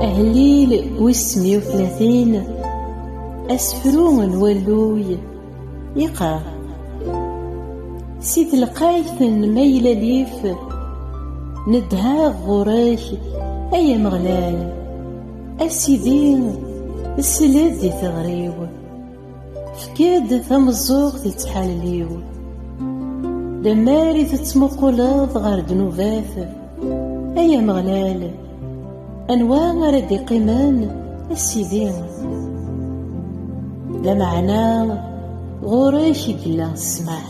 Ahlil wis semya u tlatin asefru n walluy yeqqar si telqayt n maylalif nedha ɣur-k ay Ameɣlal a Sidi sel-d i teɣri-w Tefka-d tameẓẓuɣt i ttḥalil-iw. Lemmer i tettmuquleḍ ɣer ddnubat, ay Ameɣlal, anwa ara d-iqqimen, a Sidi? Lameɛna ɣur-k i yella ssmaḥ.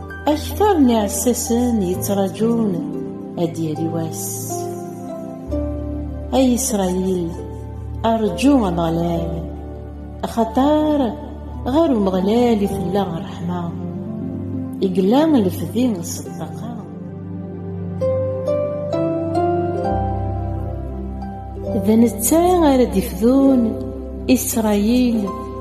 Akter n iɛessasen yettraǧun ad d-yali wass. Ay Isṛayil, rǧu Ameɣlal, axaṭer ɣer Umeɣlal i tella ṛṛeḥma, i yella lefdi s ṭṭaqa. D netta ara d-ifdun Isṛayil,